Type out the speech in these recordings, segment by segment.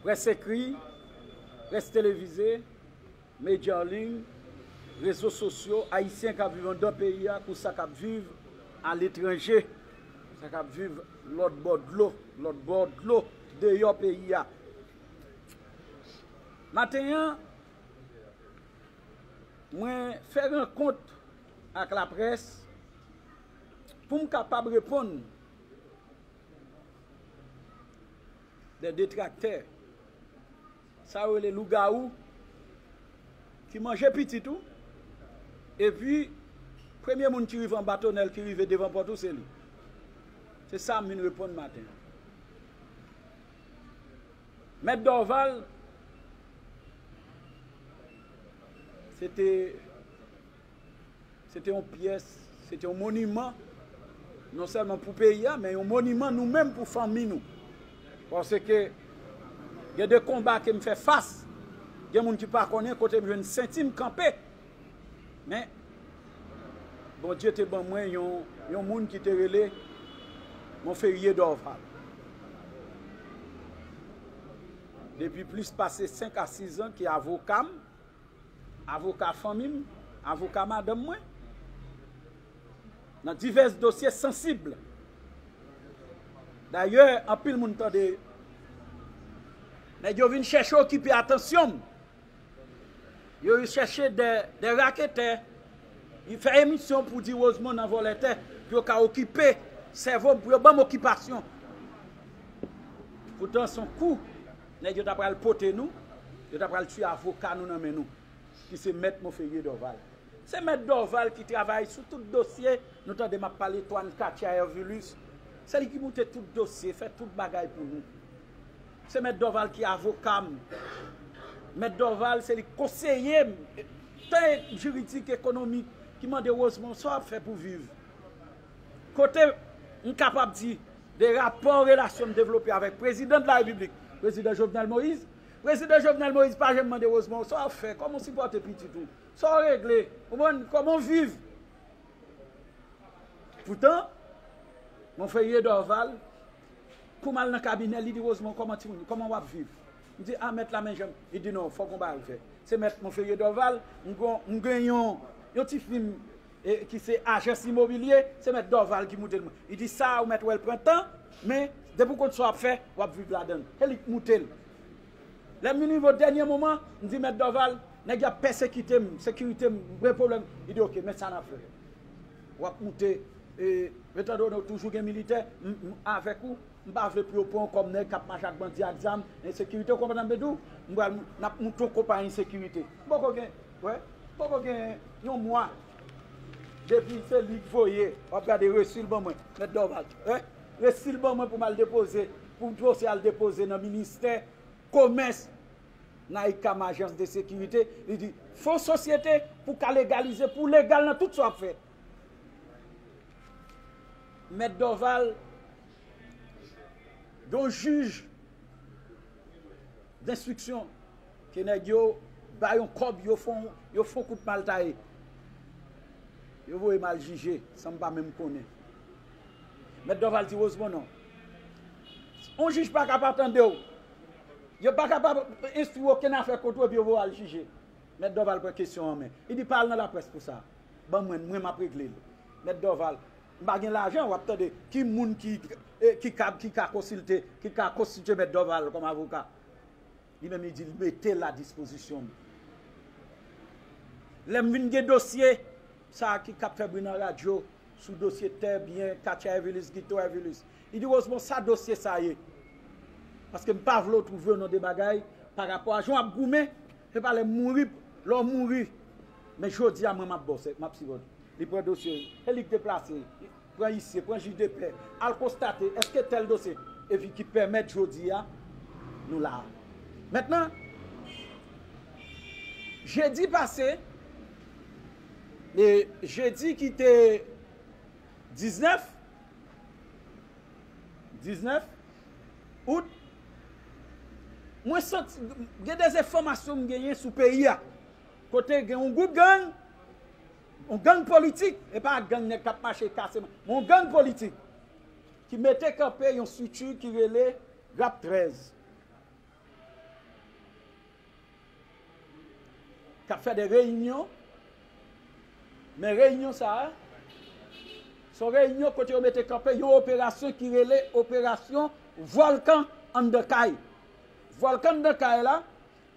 Près ekri, près televize, medya an liy, rezo sosyo, Ayisyen k ap viv anndan peyi a kou sa k ap viv aletranje, sa k ap viv lòtbò dlo, lòtbò dlo, deyò peyi a. Maten an, mwen fè rankont ak laprès. pou m kapab reponn de detraktè sa yo rele lougawou ki manje pitit ou epi premye moun ki rive anba tonèl ki rive devan pòt ou se li se sa m vin reponn maten an mèt Dorval se te Se te yon pyès, se te yon moniman non sèlman pou peyi a men yon moniman nou menm pou fanmi nou. Paske gen de konba ke m fè fas, gen moun ki pa konnen kote m jwenn senti m kanpe. Men Bondye te ban mwen yon moun ki te rele Monferrier Dorval. Depi plis pase 5 a 6 an ki avoka m. Avoka fanmi m, avoka madanm mwen, nan divès dosye sansib. Dayè, anpil moun tande nèg yo vin chèche okipe atansyon m. Yo chèche de raketè vin fè emisyon pou di Rosemond nan vòlè tè pou yo ka okipe sèvo m, pou yo ban m okipasyon. Poutan s on kou. Nèg yo ta pral pote nou, yo ta pral tiye avoka nou nan men nou, ki se mèt Monferrier Dorval. Se mèt Dorval ki travay sou tout dosye, nou tande m ap pale Toine Katia Hervilus, se li ki moute tout dosye, fè tout bagay pou nou. Se mèt Dorval ki avoka m, mèt Dorval se li ki konseye m, tan jiridik, ekonomik, ki mande Rosemond sa w ap fè pou viv? kote m kapab di de rapò relasyon m devlope avèk Prezidan de la Repiblik, Prezidan Jovenel Moïse. Prezidan Jovenel Moïse pa janm mande Rosemond sa w fè, kòman w sipòte pitit ou, sa w regle, konprann, kòman w viv. Poutan, Monseyè Dorval, kou m al nan kabinè l, li di, Rosemond, kòman timoun yo, kòman w ap viv? M di, a mèt la men jan m, li di non, fòk yon bagay fèt. Se mèt Monseyè Dorval, m gen yon ti fim e ki se ajans imobilye, se mèt Dorval ki moute l mwen. Li di sa a ou mèt wè l pran tan, men depi ou konn sa w ap fè, w ap viv ladan l. Se li ki moute l. Lè m vin rive o dènye moman, m di mèt Dorval, nèg yo ap pèsekite m, sekirite m gen pwoblèm. Li di oke, men sa n ap fè. W ap moute, etandone ou toujou gen militè, m avèk ou, m pa vle pou yo pran w kòm nèg k ap mache ak bandi ak zam, ensekirite, ou konprann sa m vle di w? N ap moute yon konpayi sekirite. M poko gen Wè poko gen yon mwa depi se li k voye wap gade resil ban mwen mèt Dorval wè resil ban mwen pou mal depoze pou dosye al depoze nan ministè komès nan icam ajans de sekirite li di fo sosyete pou ka legalize pou legal nan tout sa wap fè mèt Dorval gon jij. D'instruction ke nèg yo ba yon kòb yo fon yo fon kout mal taye yo voye m al jije san m pa menm konnen Mèt Dorval di Rosemond non yon jij pa ka pa tande w yo pa ka pa enstwi okenn afè kont ou epi yo voye w al jije Mèt Dorval pran kesyon an men li di pa al nan laprès pou sa ban mwen mwen m ap regle l Mèt Dorval M pa gen lajan wap tande ki moun ki ki kab ki ka konsilte ki ka konstitye mèt Dorval kòm avoka li menm li di li mete l a dispozisyon m lè m vin gen dosye sa a ki kab fè bri nan radyo sou dosye tè byen katya evilis gito evilis li di Rosemon sa dosye sa ye paske m pa vle w twouve w nan de bagay pa rapò a jan wap goumen se pa lè m mouri lè w mouri men jodi a mwen map ba w map sipòte w. Li pran dosye yo, e li k deplase, pran isye, pran jij de pè, al konstate eske tèl dosye, epi ki pèmèt jodi a nou la a. Mentnan, jedi pase, jedi ki te 19, 19 out, mwen santi, gen de enfòmasyon m genyen sou peyi a. Kote gen yon gwoup gang, yon gang politik, e pa gang nèg k ap mache kase, men yon gang politik, ki mete kanpe yon strikti ki rele Rap 13, k ap fè de reyinyon, men reyinyon sa a, se yon reyinyon kote yo mete kanpe yon operasyon ki rele operasyon Vòlkan anndan kay. Vòlkan anndan kay la,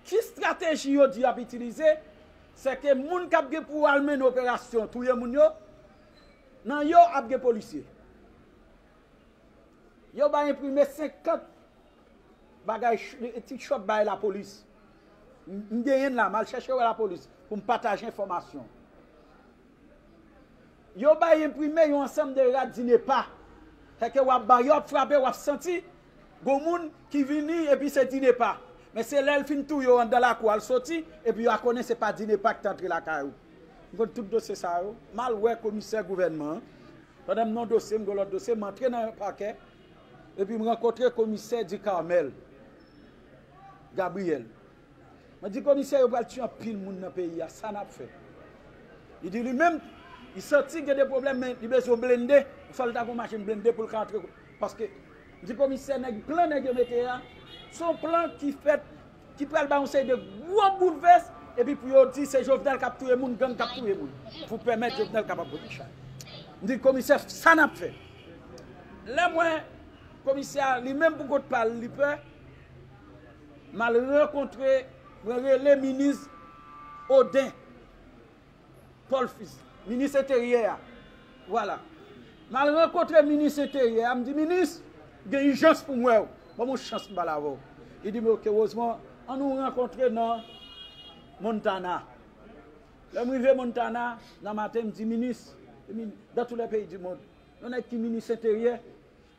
Ki strateji yo di y ap itilize, sè ke moun k ap gen pou al mennen operasyon touye moun yo, nan yo ap gen polisye. Yo bay enprime 50 bagay, ti chòt bay lapolis. M genyen la, m al chèche wè lapolis pou m pataje enfòmasyon. Yo bay enprime yon ansanm de rad di ne pa. Sa ke wap ba yo ap frape wap santi gon moun ki vini epi se di ne pa. Men se lèl fin touye w andan lakou al soti epi wa konnen se pa di ne pa ki te antre lakay ou. M konn tout dosye sa yo. M al wè komisè gouvènman an. Pandan m nan yon dosye m gen yon lòt dosye m antre nan pakè epi m rankontre komisè Ducarmel Gabriel. Mwen di komisè yo pral tiye anpil moun nan peyi a sa nap fè? Li di li menm li santi gen de pwoblèm men li bezwen yon blende, li fòl ta gen yon machin blende poul ka antre paske li di komisè nèg plan nèg yo mete a se yon plan ki fèt ki pral bay yon seri de gwo boulvès epi pou yo di se Jovenel kap touye moun gang kap touye moun pou pèmèt Jovenel kapab pote chay. M di komisè sa nap fè? Lèm wè komisè a li menm pou kont pal li pè. Mal rankontre mwen rele minis Odin Paul fils minis enteryè a vwala mal rankontre minis enteryè a m di minis m gen ijans pou m wè w banm yon chans m pale avè w li di m ok Rosemond an nou rankontre nan Montana lè m rive Montana nan maten m di minis dan tou lè peyi di mond yon nèg ki minis enteryè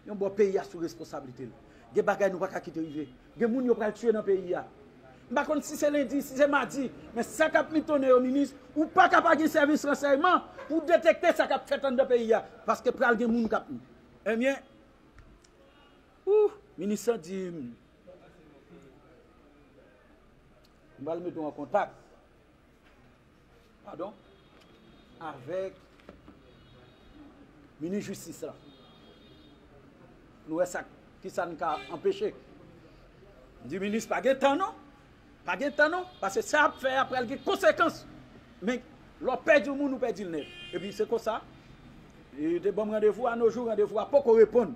Yon bò peyi a sou responsablite l. Gen bagay nou pa ka kite rive. Gen moun yo pral tiye nan peyi a. M pa konn si se lendi, si se madi, men sa k ap mitonne yo minis, ou pa ka pa gen sèvis ransèyman pou w detekte sa k ap fèt anndan peyi a. Paske pral gen moun k ap. Ebyen, ooh, minis lan di m. M pral mete w an kontak. padon avèk minis jistis la pou nou wè sa ki sa nou ka anpeche m di minis pa gen tan non pa gen tan non pase sa ap fè a pral gen konsekans men lè w pèdi yon moun ou pèdi l nèt epi se konsa yo te ban m randevou a nojou randevou a poko reponn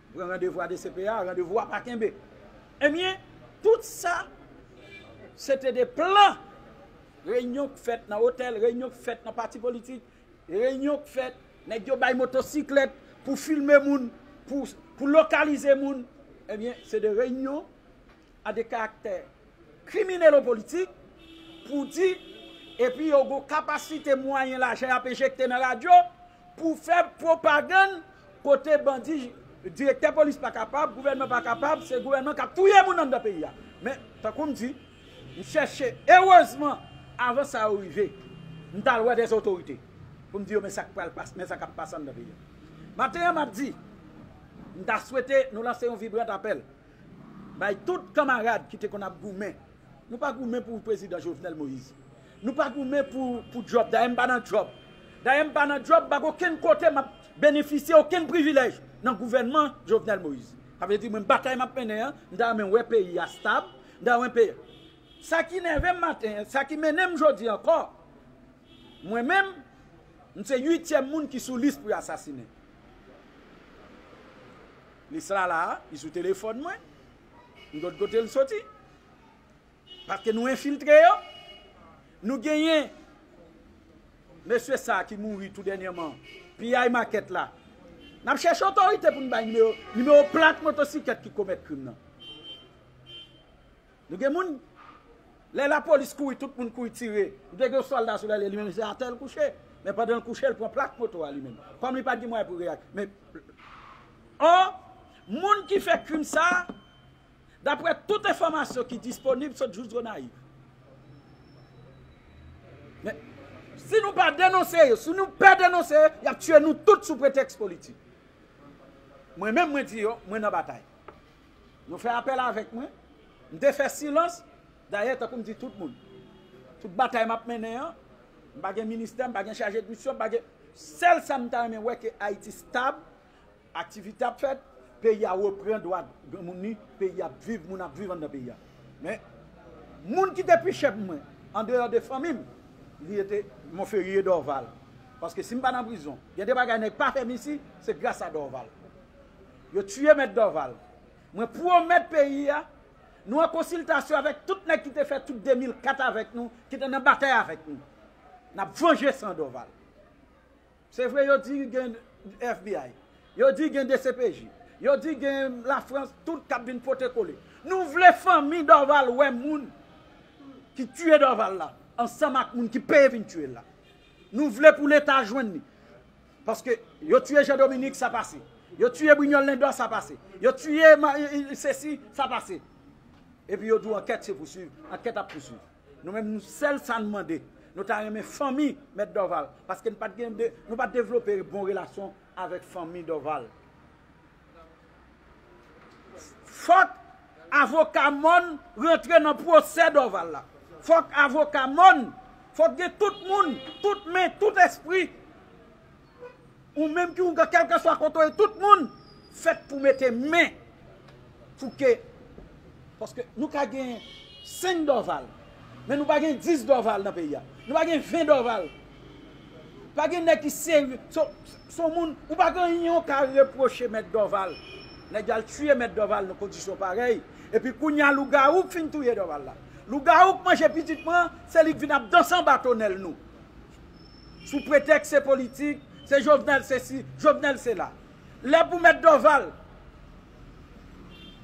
Pran randevou a dcpa, randevou a pa kenbe. Ebyen, tout sa, se te de plan, reyinyon k fèt nan otèl, reyinyon k fèt nan pati politik, reyinyon k fèt, nèg yo bay motosiklèt pou filme moun, pou lokalize moun, ebyen, se de reyinyon a de karaktè kriminelo-politik, pou di, epi yo gon kapasite mwayen lajan y ap enjekte nan radyo pou fè pwopagann kote bandi direktè polis pa kapab, gouvènman pa kapab, se gouvènman k ap touye moun anndan peyi a. Men, tankou m di, m chèche, erezman, avan sa yo rive, m t al wè dè otorite pou m di yo men sa k pral pase, men sa k ap pase anndan peyi a. Maten an, m ap di, m ta swete nou lanse yon vibrant apèl. Bay tout kanmarad ki te konn ap goumen. Nou pa goumen pou prezidan Jovenel Moïse. Nou pa goumen pou djòb. Dayè m pa nan djòb. Dayè m pa nan djòb, m pa gen okenn kote m ap benefisye okenn privilèj nan gouvènman Jovenel Moïse. Sa vle di mwen batay m ap mennen an, m ta renmen wè peyi a stab, m ta renmen peyi a. Sa ki nève m maten an, sa ki mennen m jodi an ankò, mwen menm, m se uityèm moun ki sou lis pou yo asasinen. Lis la la a, li sou telefòn mwen, m gon kote l soti. Paske nou enfiltre yo, nou genyen mesye sa ki mouri tou dènyèman, piyay makèt la. N ap chèche otorite pou n bay nimewo, nimewo plak motosiklèt ki komèt krim nan. Nou gen moun Lè la police kouri tout moun kouri tire Nou te gen yon solda sou lèl li menm se atè l kouche men pandan l kouche l pran plak moto a li menm kòm li pat gen mwayen pou reyak men or moun ki fè krim sa daprè tout enfòmasyon ki disponib sot jous gonayiv men si nou pa denonse yo si nou pè denonse yo yap tiye nou tout sou pretèks politik mwen menm mwen di yo mwen nan batay Nou fè apèl avèk mwen. M te fè silans, dayè tankou m di tout moun. Tout batay m ap mennen an, m pa gen ministè, m pa gen chaje d'misyon, m pa gen. Sèl sa m ta renmen wè ke Ayiti stab, aktivite ap fèt, peyi a repran dwa granmoun ni, peyi a ap viv, moun ap viv anndan peyi a. Men, moun ki te pi chè pou mwen, andeyò de fanmi m, li rete Monferrier Dorval. Paske si m pa nan prizon, gen de bagay nèg pa fè m isi, se gras a Dorval. Yo tuye mèt Dorval. Mwen pwomèt peyi a, nou an konsiltasyon avèk tout nèg ki te fè tout 2004 avèk nou, ki te nan batay avèk nou. N ap vanje san Dorval. Se vre yo di gen FBI, yo di gen dcpj, yo di gen Lafrans tout k ap vin pote kole. Nou vle fanmi Dorval wè moun ki tuye Dorval la ansanm ak moun ki peye vin tuye l la. Nou vle pou Leta jwenn li. Paske yo tiye Jean Dominique sa pase. Yo tiye Brignol Lindor sa pase. Yo tiye sesi sa pase. Epi yo di w ankèt se pouswiv. Ankèt ap pouswiv. Nou menm nou sèl sa nou mande. Nou ta renmen fanmi Mèt Dorval. Paske nou pat devlope bon relasyon avèk fanmi Dorval. Fòk avoka mòn rantre nan pwosè Dorval la. Fòk avoka mòn, fòk gen tout moun, tout men, tout espri, ou menm ki ougan kèlkanswa kote ou ye, tout moun fèt pou mete men. Fouke, paske nou ka gen 5 Dorval, men nou pa gen 10 Dorval nan peyi a. Nou pa gen 20 Dorval. Pa gen nèg ki serye son moun ou pa gen anyen ou ka repwoche mèt Dorval nèg yo al tiye mèt Dorval nan kondisyon parèy epi kounya lougawou k fin touye Dorval la lougawou k manje pitit mwen an se li k vin ap danse anba tonèl nou sou pretèks se politik se Jovenel sesi Jovenel sela lè pou mèt Dorval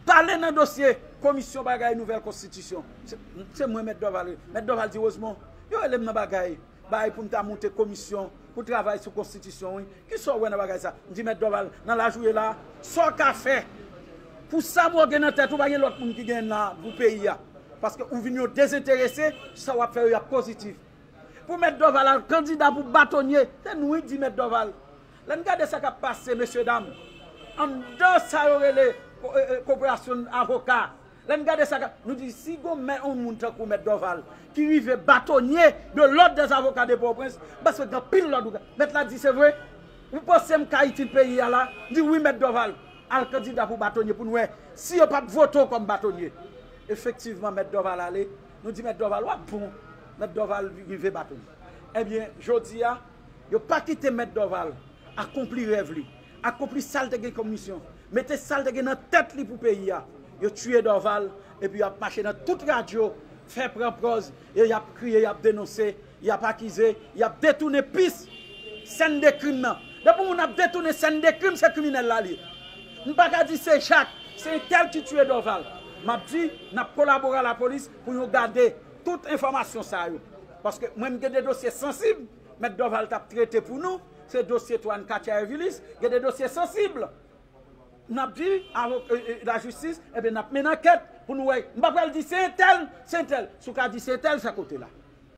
Pale nan dosye komisyon bagay nouvèl konstitisyon. Se mwen mèt Dorval ye. Mèt Dorval di Rosemon, yo rele m nan bagay bay pou m ta moute komisyon pou travay sou konstitisyon wi. Ki sa w wè nan bagay sa? M di mèt Dorval, nan laj ou ye la a, sa w ka fè pou sa mwen gen nan tèt ou pa gen lòt moun ki genyen nan pou peyi a. Paske ou vin yon dezenterese, sa w ap fè yo y ap pozitif. Pou mèt Doval al kandida pou batonye, se nou wi di mèt Doval. Lè n gade sa k ap pase mesye dam, anndan sa yo rele koperasyon avoka, lè n gade sa k ap, nou di si gon mè yon moun tankou mèt Doval ki rive batonye de lòd dè avoka de Pòtoprens, m panse gen anpil lòd ou ka, mèt la di se vre? Ou panse m ka itil peyi a la? M di wi mèt Doval, al kandida pou batonye pou n wè si yo p ap vote w kòm batonye. Efektivman mèt Doval ale, Nou di mèt Dòval wap bon mèt Dòval rive bat ou ebyen jodi a yo pa kite mèt Dòval akonpli rèv li akonpli sal te gen kòm misyon mete sal te gen nan tèt li pou peyi a yo tiye Dòval epi yap mache nan tout radyo fè pran pòz e yap kriye yap denonse. Y ap akize, y ap detounen pis sèn de krim nan. Depi moun ap detounen sèn de krim, se kriminèl la l ye. M pa ka di se Jak, se entèl ki tiye Dòval. M ap di, n ap kolabore a lapolis pou yon gade tout enfòmasyon sa yo. Paske mwen m gen de dosye sansib, Mèt Dòval t ap trete pou nou, se dosye to Anne Katia Ervilis, gen de dosye sansib. N ap di lajistis, enben n ap mennen ankèt pou nou wè. M pa pral di se entèl, se entèl. Si w ka di se entèl, se kote la.